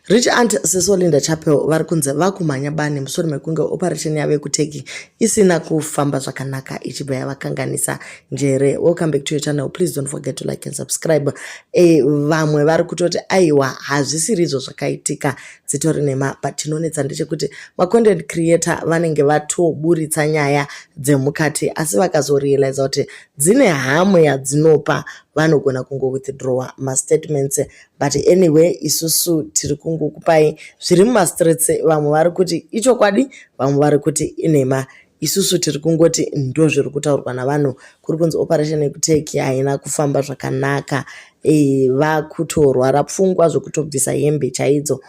Rich Aunt Siso Linda Chapel vari kunzi vakumhanya bani mushure mekunge operation yavo yekuturkey isina kufamba zvakanaka ichibva yavakanganisa njere. Welcome back to your channel. Please don't forget to like and subscribe. E, vamwe vari kutoti aiwa hazvisiri izvo zvakaitika dzitori nhema but chinonetsa ndechekuti macontent creator vanenge vatoburitsa nyaya dzemukati asi vakazorealiza kuti dzine hamwe yadzinopa vanogona kungo withdrawa mastatements but anyway isusu tiri kungokupai zviri mumastreets vamwe vari kuti ichokwadi vamwe vari kuti inhema isusu tiri kungoti ndo zviri kutaurwa navanhu kuri kunzi operation yekuteki haina kufamba zvakanaka e, vakutorwara pfungwa zvekutobvisa hembe chaidzo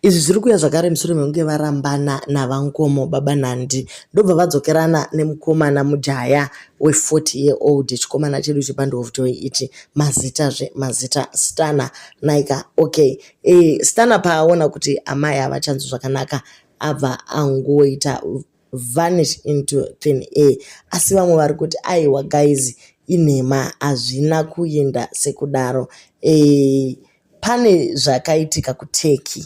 Izvi zviri kuuya zvakare mushure mekunge varambana naVaNkomo baba Nandi ndobva vadzokerana nemukomana mujaya we40 year old chikomana chedu chepandihofutoi ichi mazita zve mazita stana naika okay e, stana paaona kuti amai havachanzwi zvakanaka abva angoita vanish into thin air asi vamwe vari kuti aiwa guys inhema hazvina kuenda sekudaro e, pane zvakaitika kuturkey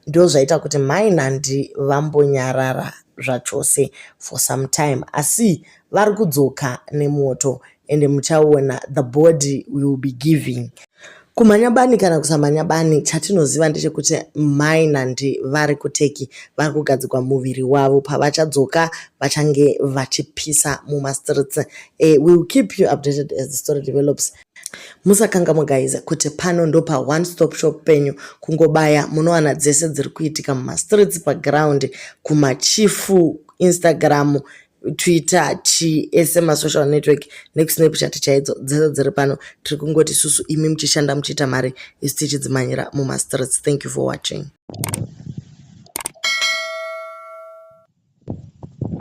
ndo zvaita kuti mai nandi vambonyarara zvachose for some time asi vari kudzoka nemoto ende muchaona the body will be giving kumhanya bani kana kusamhanya bani chatinoziva ndechekuti mai nandi vari kuteki vari kugadzirwa muviri wavo pavachadzoka vachange vachipisa mumastreets uh, eh, will keep you updated as the story develops musakangamwa guys kuti pano ndopa one stop shop penyu kungobaya munowana dzese dziri kuitika mumastreets paground kumachifu instagram twitter chi ese masocial network nekusnapchat chaidzo dzese dziri pano tiri kungoti susu imi muchishanda muchiita mari isu tichidzimanyira mumastreets thank you for watching